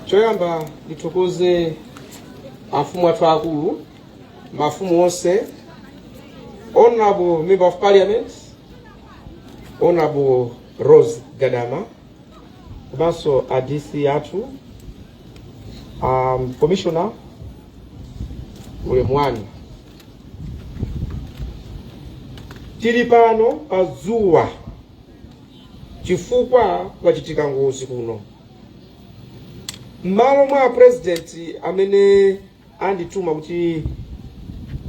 choyamba ndithokoze afumu athu akulu mafumu onse honorable member of parliament honorable rose gadama komanso a dc athu um, commissioner ulemu wanu tili pano pa dzuwa chifukwa kwachitika ngozi kuno m'malo mwa apurezidenti amene andituma kuti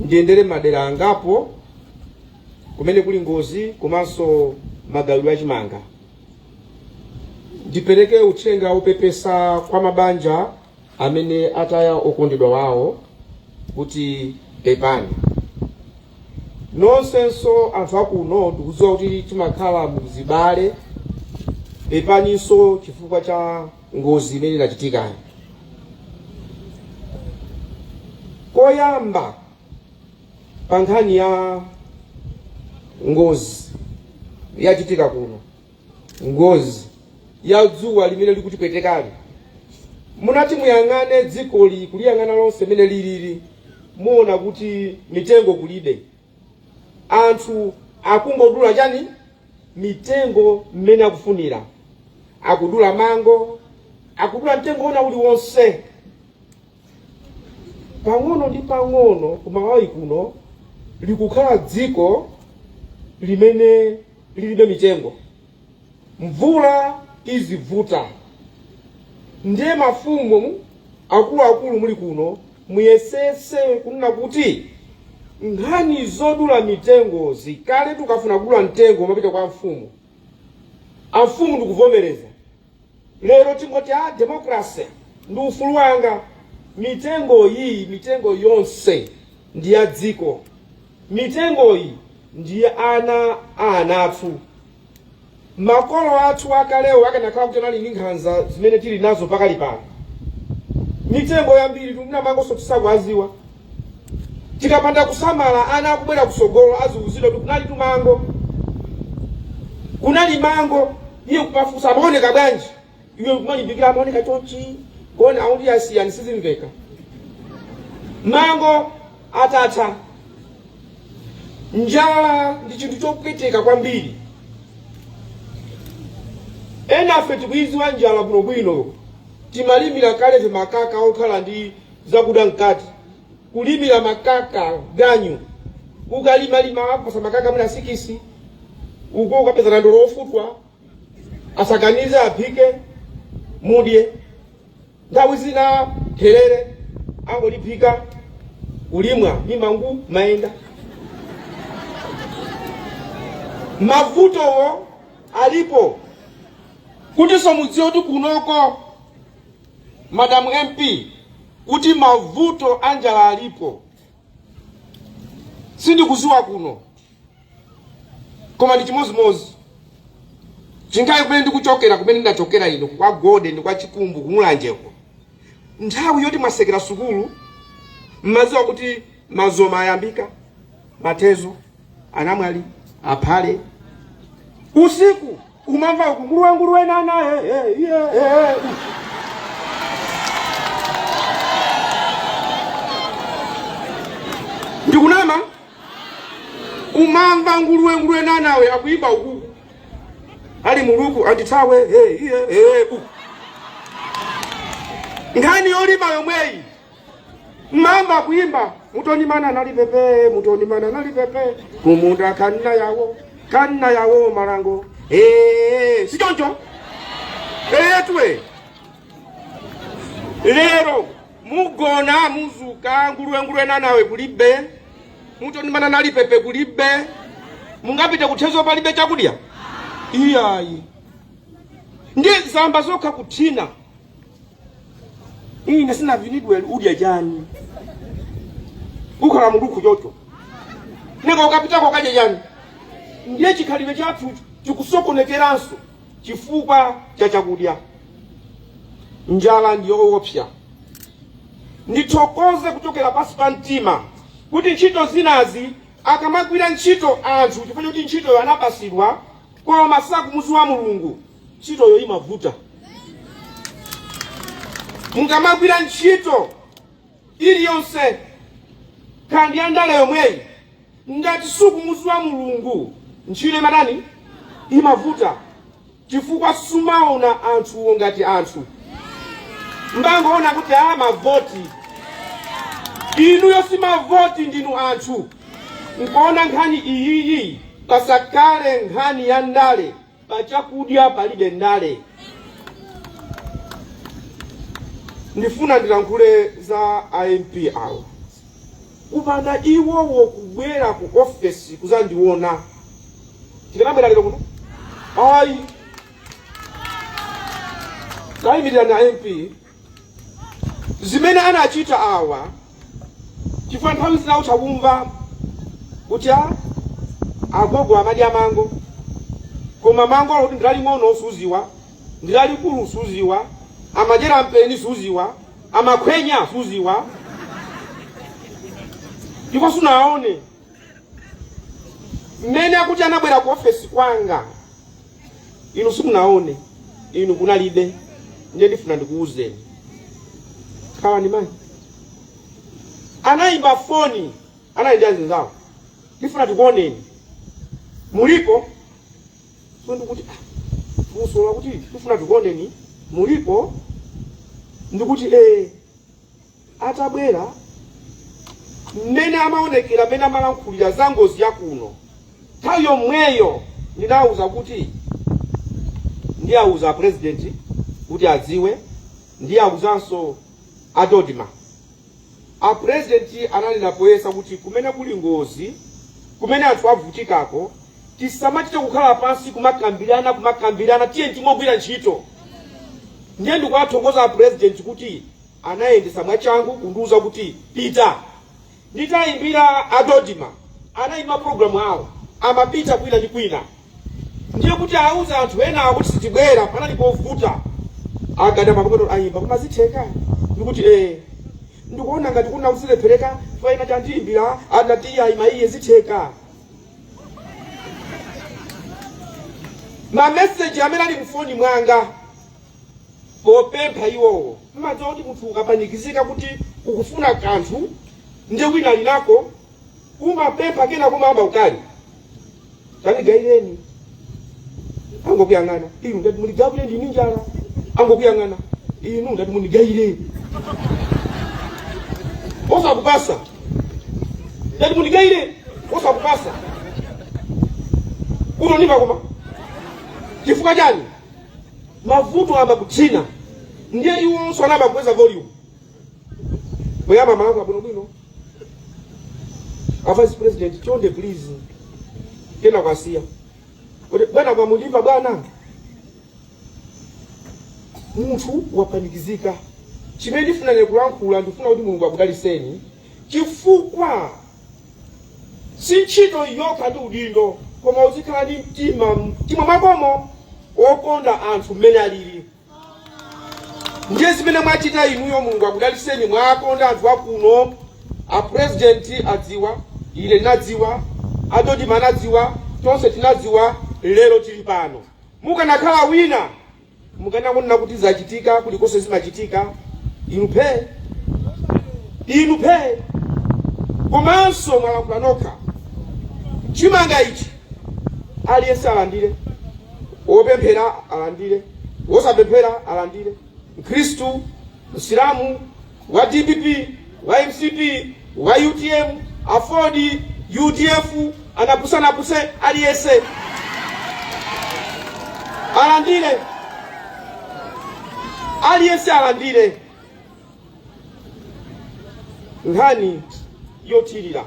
ndiyendere madera angapo kumene kuli ngozi komanso magawidwe achimanga ndipereke uthenga wopepesa kwa mabanja amene ataya okondedwa wawo kuti pepani nonsenso anthu akuno ndikudziwa kuti timakhala muzibale pepaninso chifukwa cha ngozi imene inachitika. Koyamba pa nkhani ya ngozi yachitika kuno, ngozi ya dzuwa limene likutipwetekali, munati muyang'ane dzikoli kuliyang'ana lonse mene lilili, muona kuti mitengo kulibe. anthu akungodula chani mitengo mmene akufunira akudula mango akudula mtengo wina uliwonse pang'ono ndi pang'ono ku malawi kuno likukhala dziko limene lilibe mitengo Mvula izivuta ndiye mafumu akuluakulu muli kuno muyesese kunena kuti nkhani zodula mitengozi kale ukafuna kudula mtengo umapita kwa amfumu amfumu ndikuvomereza Lero tingoti a democracy ndi ufulu wanga. Mitengo iyi, mitengo yonse ndi ya dziko. Mitengoyi ndi ya ana a ana athu. Makolo athu akalewo akanakhala kuti anali ndi nkhanza zimene tili nazo pakali pano, mitengo yambiri tikuti na mangonso tisakuwadziwa. Tikapanda kusamala ana akubwera kusogolo aziuzidwa kuti kunalitu mango. Kunali mango. Iye kumafunsa amaoneka bwanji? Iwe kumalimbikira amaoneka chonchi. Bona aundi asiyani sizimveka. Mango atatha. Njala ndi chinthu chopweteka kwambiri. Enafe tikuidziwa njala bwinobwino. Timalimira kale ife makaka okhala ndi zakuda mkati kulimira makaka ganyu ukalimalima wapasa makaka mwina sikisi uko ukapeza nandolo ofutwa asakanize aphike mudye nthawi zina therere angoliphika ulimwa ndi mangu mayenda mavutowo alipo kutinso mudziwe kuti kunoko madam mp kuti mavuto a njala alipo sindikuziwa kuno koma ndi chimodzimodzi chingayi kumene ndikuchokera kumene ndachokera ine kwa gode ndi kwa chikumbu ku mulanjeko nthawi yoti mwasekera sukulu mmaziwa kuti mazoma ayambika mathezo anamwali aphale usiku umamva uku nguruwe nguruwe nana eh, eh, iye, eh, eh. ndikunama umamva nguruwe nguruwe nanawe akuyimba uku ali muluku andithawe eh, iye, eh, uku nkhani yolima yomweyi mmamva akuimba mutonimana nali pepe mutonimana nali pepe kumunda kanna yawo kanna yawo malango Eh, si choncho eyetwe lero mugona muzuka nguluwenguluwe nanawe kulibe mutonimana nali pepe kulibe mungapite kuthezo palibe chakudya iyayi ndi zamba zokha kuthina ine sinavinidwe udya chani ukhala mulukhu chocho nanga ukapitako ukadya chani ndiye chikhalidwe chathu chikusokonekeranso chifukwa cha chakudya njala ndiyoopsa ndithokoze kuchokera pansi pa mtima kuti ntchito zinazi akamagwira ntchito anthu chifukwa choti ntchitoyo anapasidwa koma sakumuziwa mulungu ntchitoyo imavuta mukamagwira ntchito iliyonse kaya ndi ya ndale yomweyi ngati sukumuziwa mulungu ntchito imatani imavuta chifukwa sumaona anthuwo ngati anthu mmangoona kuti a mavoti inuyo si mavoti ndinu anthu Mukaona nkhani iyiyi pasakhale nkhani ya ndale, pa chakudya palibe ndale. Ndifuna ndilankhule za a MP awa, kupanda iwowo kubwera ku ofesi kuzandiona sindikanabwera lero kuno ayi. Tayimirirani a MP zimene anachita awa chifukwa nthawi zina utha kumva kuti a agogo amadya mango koma mango akuti ndilaling'ono suziwa ndilalikulu suziwa amadyera mpeni suziwa amakhwenya suziwa ndipo sunaone mmene akuti anabwera ku ofesi kwanga inu simunaone inu kunalibe nde ndifuna ndikuwuzeni awa ndi mani anayimba foni anali ndi azinzawo ndifuna tikuoneni mulipo ndikuti "Ah, funso lakuti tifuna tikuoneni mulipo ndikuti eh atabwera mmene amaonekera mmene amalankhulira za ngozi ya kuno nthawi yomweyo ndinawuza kuti ndiawuza apurezidenti kuti adziwe ndiawuzanso a Dodma apurezidenti ananena poyera kuti kumene kuli ngozi kumene anthu avutikako tisamachite kukhala pansi kumakambirana kumakambirana tiyeni timagwira ntchito ndiye ndikuwathokoza apurezidenti kuti Anayendetsa mwachangu kundiuza kuti, Pita! Nditaimbira a Dodma, anaima maprogramu awo, amapita kwina ndi kwina. Ndiye kuti auze anthu ena kuti sitibwera, panali povuta. A Gadama pang'ono aimba, koma zitheka? Ndikuti, Ee. Ndikuona ngati kunali kuti zilephereka chifukwa ena atandiimbira anati ayi mayi zitheka. Mameseji amene ali mfoni mwanga popempha iwowo. Mumadziwa kuti munthu ukapanikizika kuti ukufuna kanthu nde wina alinako, umapempha kena kumayamba ndi ukali tandigaireni, angokuyang'ana inu ndati mundigawire ndini njala, angokuyang'ana inu ndati mundigaire osakupasa ndati mundigaire osakupasa utonimba koma chifukwa chani mavuto amakutsina ndiye iwonso ana amakweza volume poyamba amalankhula bwinobwino a vice president chonde please kena kwasiya kuti bwana mukundimva bwana munthu wapanikizika chimene ndifuna nkulankhula ndifuna kuti mulungu akudaliseni chifukwa si ntchito yokha ndi udindo koma uzikhala ndi mtima mtima mwakomo wokonda anthu mmene alili ndiye zimene mwachita inuyo mulungu akudaliseni mwakonda anthu akuno apurezidenti adziwa ine nadziwa adodima anadziwa tonse tinadziwa lero tili pano mukanakhala wina Mukanangonena kuti zachitika kulikonse zimachitika inu phee inu phee komanso mwalankhula nokha chimanga ichi aliyense alandire wopemphera alandire wosapemphera alandire mkhristu msilamu wa dpp, wa mcp, wa utm, aford, udf, anapusanapuse aliyese alandile aliyese alandile nkhani yothirira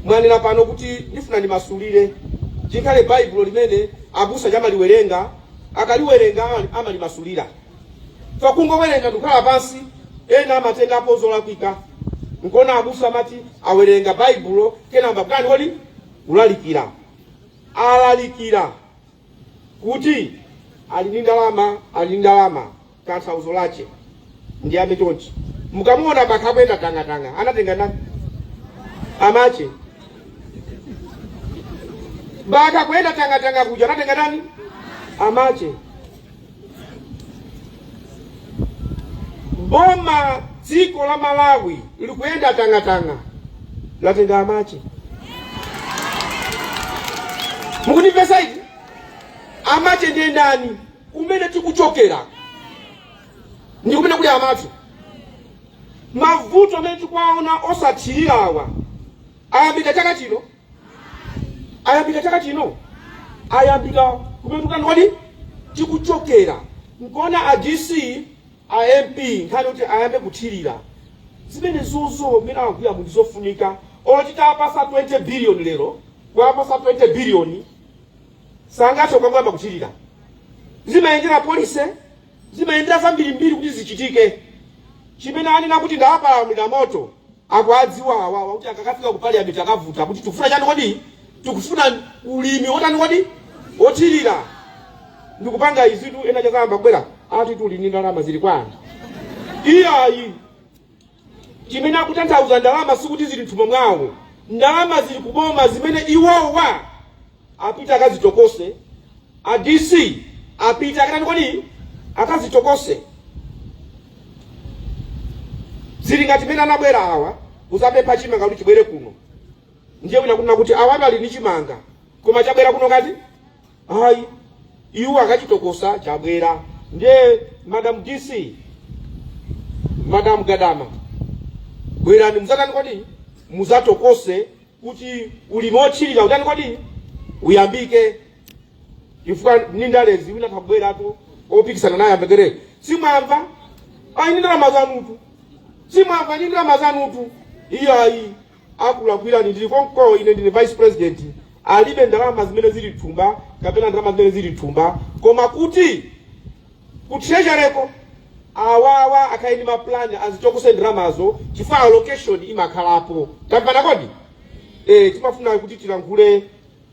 mwanena pano kuti ndifuna ndimasulire chikhale baibulo limene abusa amaliwerenga akaliwerenga amalimasulira fa kungowerenga ndikukhala pansi ena amatengapo zolakwika nkona abusa amati awerenga baibulo kena nkubakani kodi kulalikira alalikira kuti ali ndi ndalama ali ndi ndalama tanthauzo lache ndi amenechonchi mukamuona bakha kuyenda tang'atang'a anatenga ndani amache bakha kuyenda tang'atang'a kuja anatenga ndani amache boma dziko la malawi likuyenda tang'atang'a latenga amache mukundipeza eti amache ndiye ndani kumene tikuchokera ndi kumene kuli amache mavuto amene tikuwaona osathirirawa ayambika chaka chino ayambika chaka chino ayambika kumene tikutani kodi tikuchokera nkuona a dc a mp nkhani kuti ayambe kuthirira zimenezozo mmene akugwira munthu zofunika olo titawapasa 20 billion lero kuwapasa 20 billion sangathe kukangoyamba kuthirira zimayendera policy Zimayendera zambirimbiri kuti zichitike. Chimene anena kuti ndawapalamulira moto akudziwa awawa kuti akakafika ku parliament akavuta kuti tikufuna chani kodi? Tikufuna ulimi wotani kodi? Wothirira. Ndikukamba izitu ena azayamba kubwera ati muli ndi ndalama zili kwani. Iyayi. Chimene akutanthauza ndalama sikuti zili mthumba mwawo. Ndalama zili kuboma zimene iwowa apite akazitokose a DC apite akatani kodi akazitokose zili ngati mene ndabwera awa kuzapempha chimanga kuti chibwere kuno ndiye wina kunena kuti awatu ali ndi chimanga koma chabwera kuno kati ayi iwo akachitokosa chabwera ndiye madam DC madam Gadama bwerani muzatani kodi muzatokose kuti ulimi othirira utani kodi uyambike chifukwa ni ndalezi wina tabweratu opikisana naye ambekere simwamva ayi ndalama zanutu simwamva ni ndalama zanutu iyayi akulakwira ndili konko ine ndine vice president alibe ndalama zimene zili thumba kapena ndalama zimene zili thumba koma kuti Ku treasury ko awawa akhale ndi ma plan azitokose ndalamazo chifukwa allocation imakhalapo. Tamvana kodi? Eh, timafuna kuti tilankhule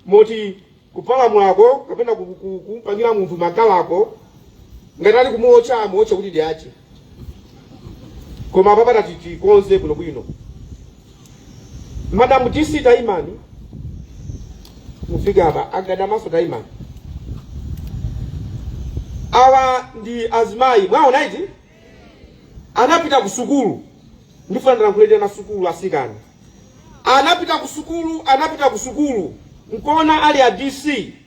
moti kupalamulako kapena kumpangira munthu makalako ngati ali kumuotcha amuotche kuti ndi ache koma apapa ta titikonze bwinobwino Madam DC taimani mufike apa a Gadamaso taimani awa ndi azimayi mwaona iti anapita ku sukulu ndifuna ndilankhulire ana sukulu asikana anapita ku sukulu anapita ku sukulu nkona ali a DC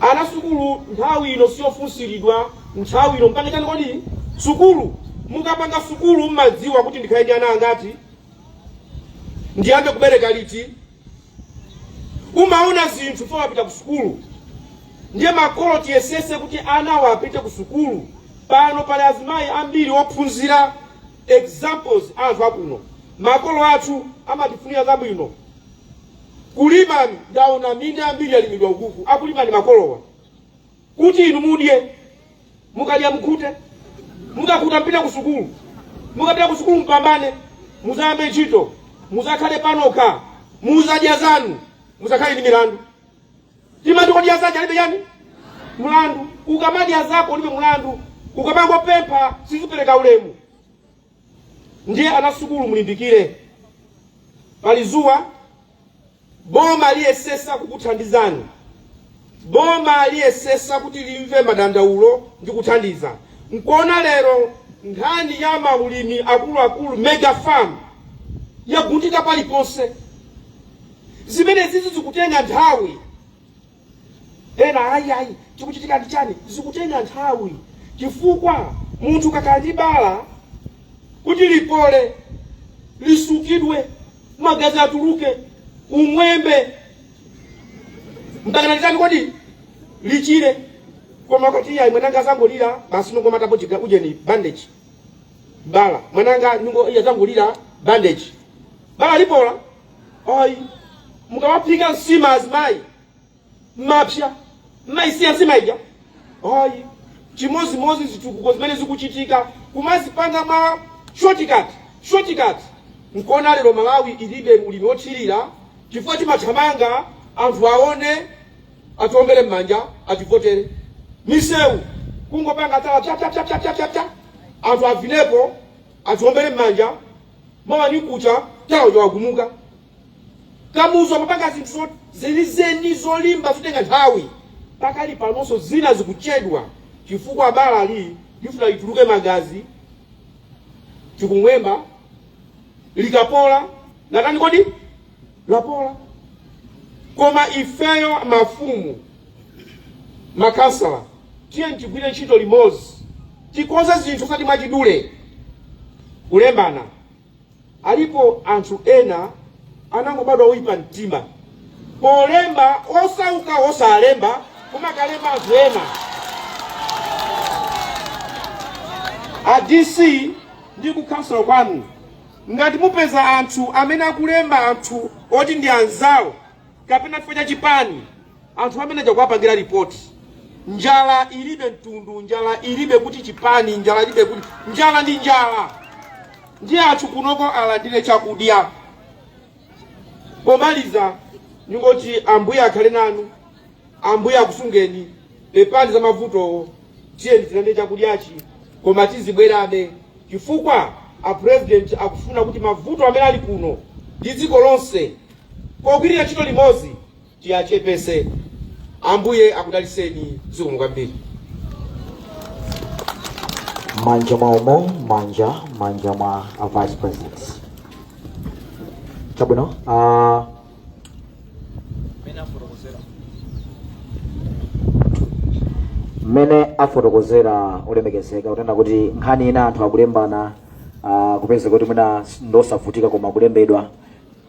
ana sukulu nthawi ino siyofunsiridwa nthawi ino mpanga chani kodi sukulu mukapanga sukulu mmadziwa kuti ndikhale ndi ana angati ndiyambe kubereka liti umaona zinthu fo wapita ku sukulu ndiye makolo tiyesese kuti anawa apite ku sukulu pano pali azimayi ambiri ophunzira examples anthu akuno makolo athu amatifunira zabwino Kulima, ndaona minda yambiri yalimidwa ukuku, akulima ni makolowa kuti inu mudye, mukadya mkhute, mukakhuta mpita ku sukulu, mukapita ku sukulu mpambane, muzayambe ntchito, muzakhale panokha, muzadye zanu, muzakhale ndi milandu. Timati odya zake alibe chani mlandu, ukamadya zako ulibe mlandu, ukamangopempha sizipereka ulemu. Ndiye ana sukulu mulimbikire, pali zuwa. Boma liyesesa kukuthandizani, boma liyesesa kuti limve madandaulo ndi kuthandiza. Nkuona lero nkhani ya maulimi akuluakulu mega farm yagundika paliponse. Zimenezizi zikutenga nthawi. Ena ayi ayi chikuchitika ndi chani? Zikutenga nthawi chifukwa munthu ukakhala ndi bala kuti lipole, lisukidwe, magazi atuluke, ung'wembe mpakana litani kodi lichire. Koma ukati iya mwananga azangolira basi nkungomatapo chiga ujeni bandage bala mwananga nyungo iya azangolira bandage bala lipola. ayi mukamaphika nsima azimayi mmapsa mmayisiya nsima ija ayi chimodzimodzi zitukuko zimene zikuchitika kumazipanga mwa shortcut shortcut nkuona lero malawi ilibe ulimi wothirira chifukwa timathamanga anthu aone atiombere m'manja ativotere misewu kungopanga tala tatatatatatatata anthu avinepo atiombere m'manja mawa ni kucha tala uja wagumuka kamuzu amapanga zinthu zo- zenizeni zolimba zitenga nthawi pakali panonso zina zikuchedwa chifukwa balali lifuna lituluke magazi chikung'wemba likapola latani kodi lapola koma ifeyo mafumu Makhansala, tiyeni tigwire ntchito limodzi, tikonze zinthu osati mwachidule, kulembana. Alipo anthu ena anangobadwa oyipa mtima, polemba osauka osalemba kumakalemba anthu ena. A DC ndi ku khonsolo kwanu, ngati mupeza anthu amene akulemba anthu oti ndi anzawo kapena chifukwa cha chipani anthu amene aja kuwapangira ripoti njala ilibe mtundu njala ilibe kuti chipani njala ilibe kuti njala ndi njala ndiye anthu kunoko alandire chakudya pomaliza ndingoti ambuye akhale nanu ambuye akusungeni pepani za mavutowo tiyeni tilandire chakudyachi koma tizibwerabe chifukwa a president akufuna kuti mavuto amene ali kuno ndi dziko lonse pogwirira ntchito limodzi tiachepese ambuye akudaliseni zikomo kwambiri. M'manja mwawomo m'manja m'manja mwa a vice president chabwino uh, mmene afotokozera olemekezeka kunena kuti nkhani ina anthu akulembana uh, kupezeka kuti mwina ndosavutika koma kulembedwa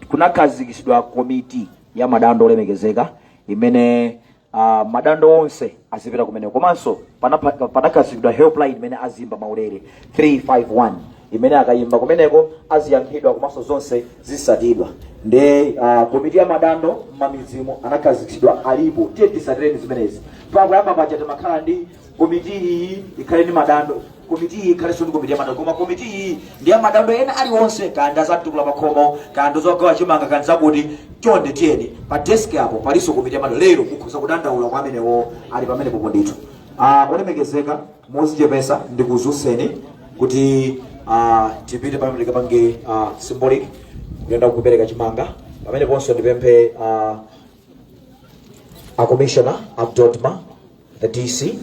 kunakhazikitsidwa komiti ya madando olemekezeka imene uh, madando onse azipita kumeneko komanso panapa- panakhazikitsidwa helpline imene aziyimba maulere 351 imene akayimba kumeneko aziyankhidwa komanso zonse zisatidwa nde uh, komiti ya madando mmamidzimu anakhazikitsidwa alipo tiye tisatireni zimenezi pakuyamba paja timakhala ndi komiti iyi ikhale ndi madando komiti iyi ikhalenso ndi komiti ya madando koma komiti iyi ndi ya madando ena aliwonse kaya ndi za mtukula pakhomo kaya ndi zogawa chimanga kaya ndi zakuti chonde tiyeni pa desk apo palinso komiti ya madando lero mukhoza kudandaula kwa amenewo ali pamenepopo ndithu Ah, olemekezeka mozichepesa ndikuzutseni kuti ah, tipite pamene tikapange ah, symbolic kuyenda kupereka chimanga pameneponso ndipemphe ah, a commissioner of DoDMA the dc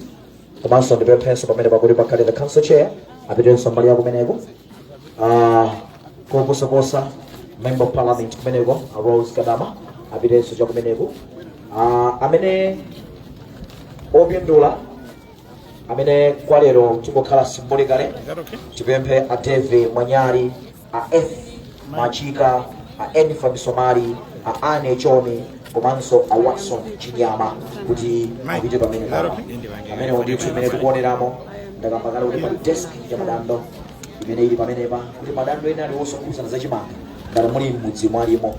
komanso ndipemphenso pamene pakuti pakhale the council chair apitenso mbali ya kumeneko Ah, koposaposa member of parliament kumeneko a Rose Gadama apitenso cha kumeneko Ah, amene opindula amene kwalero tikukhala symbolically tipemphe a deve mwanyali a F Machika, a Enifa Misomali, a Anne Chomi komanso a Watson Chinyama kuti apite pamene pano. Amenewa ndithu imene tikuoneramo ndakamba kale kuti pali desk ya madando imene ili pamenepa kuti madando ena aliwonse okhudzana za chimanga ngati muli m'mudzi mwalimo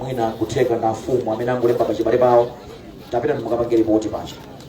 mwina kutheka ndi afumu amene angolemba pachibale pawo tapitani mukapange lipoti paja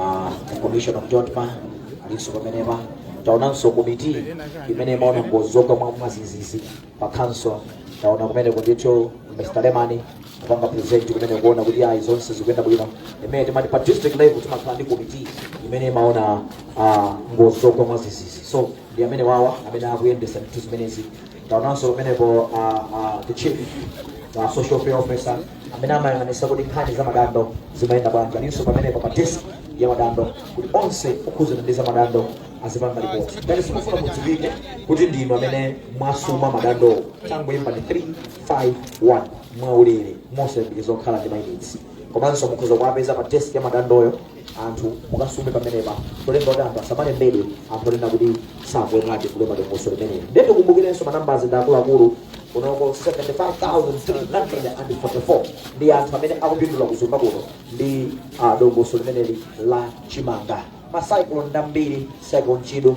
Ah, commission of DoDMA alinso pamenepa taonanso komiti imene imaona ngozi zogwa mwa mwazizizi pa council taona kumeneku ndithu mr lemani kupanga present kumene kuona kuti ayi zonse zikuyenda bwino imene timati pa district level timakhala ndi komiti imene imaona ah, ngozi zogwa mwazizizi so ndi amenewawa amene akuyendesa ndithu zimenezi taonanso pamenepo a a the chief a social welfare officer amene amayang'anisa kuti nkhani za madando zimayenda bwanji alinso pamenepo pa desk ya madando kuti onse okhudzana ndi za madando azipanga ripoti ngati simufuna mudziwike kuti ndinu amene mwasuma madandowo tangoyimbani 351 mwaulere mosayembekezera kukhala ndi mayinitsi komanso mukhoza kuwapeza pa desk ya madandoyo anthu mukasume pamenepa cholemba kuti anthu asamalembedwe anthu onena kuti sakuyenera chifukwa padongosolo limeneli ndiye tikumbukirenso manambazi ndi akuluakulu kunoko 75344 ndi anthu amene akupindula ku Zomba kuno ndi ah, dongosolo limeneli la chimanga macyclone ndambiri cyclone chido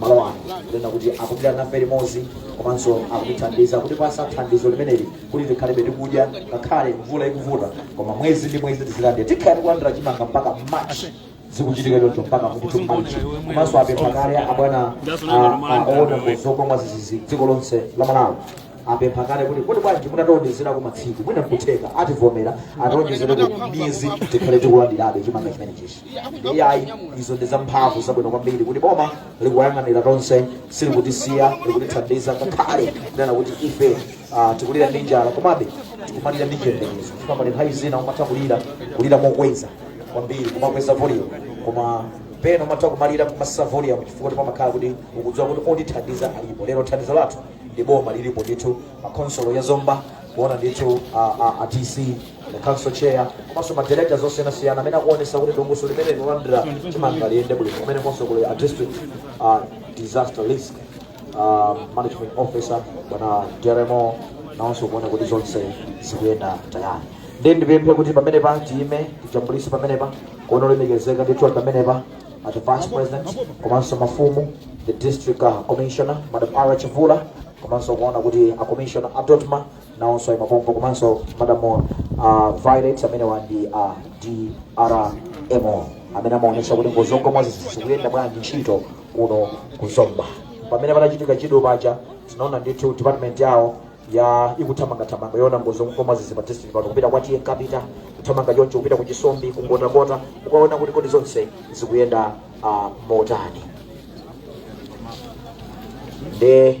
malo ano kunena kuti akupita nafe limodzi komanso akutithandiza kutipatsa thandizo limeneli kuti tikhalebe tikudya ngakhale mvula ikuvuta koma mwezi ndi mwezi tizilandira tikhale kulandira chimanga mpaka march zikuchitika choncho mpaka kuti march komanso apempha kale abwana oona ngozi zogwa mwadzidzidzi dziko lonse la Malawi apempha kale kuti kuti bwanji mutatiwonjezera ku matsiku mwina nkutheka ativomera atiwonjezere ku miyezi tikhale tikulandirabe chimanga chimenechichi iyayi izo ndi zamphamvu zabwino kwambiri kuti boma likuyang'anira tonse silikutisiya likutithandiza ngakhale kunena kuti ife ah, tikulira ndi njala komabe tikumalira ndi chiyembekezo chifukwa pali nthawi zina umatha kulira kulira mokweza kwambiri kumakweza volume koma pena umatha kumalira kumatsitsa volume chifukwa kuti pamakhala kuti ukudziwa kuti otithandiza alipo lero thandizo lathu ndi boma lilipo ndithu ma khonsolo ya Zomba kuona ndithu a- a- a DC council chair komanso madirekta osiyanasiyana amene akuonetsetsa kuti dongosolo limeneli lolandira chimanga liyende bwino kumenekonso kuli a district uh, disaster risk uh, management officer bwana jeremo nawonso kuona kuti zonse zikuyenda tayale nde ndipemphe kuti pamenepa tiyime tijambulise pamenepa kuona olemekezeka ndithu pamenepa at the vice president komanso mafumu the district uh, commissioner madam ara chivula komanso kuona kuti a commissioner a DoDMA nawonso ayima pompo komanso madam uh, violet amenewa ndi a uh, DRMO amene amaonetsetsa kuti ngozi zogwa mwadzidzidzi zikuyenda bwanji ntchito kuno ku Zomba pamene panachitika Chido paja tinaona ndithu department yawo ya ikuthamangathamanga yoona ngozi zogwa mwadzidzidzi pa district pano kupita kwa TA Nkapita kuthamanga choncho kupita ku Chisombi kwa Mkotakota kukaona kuti kodi zonse zikuyenda uh, motani nde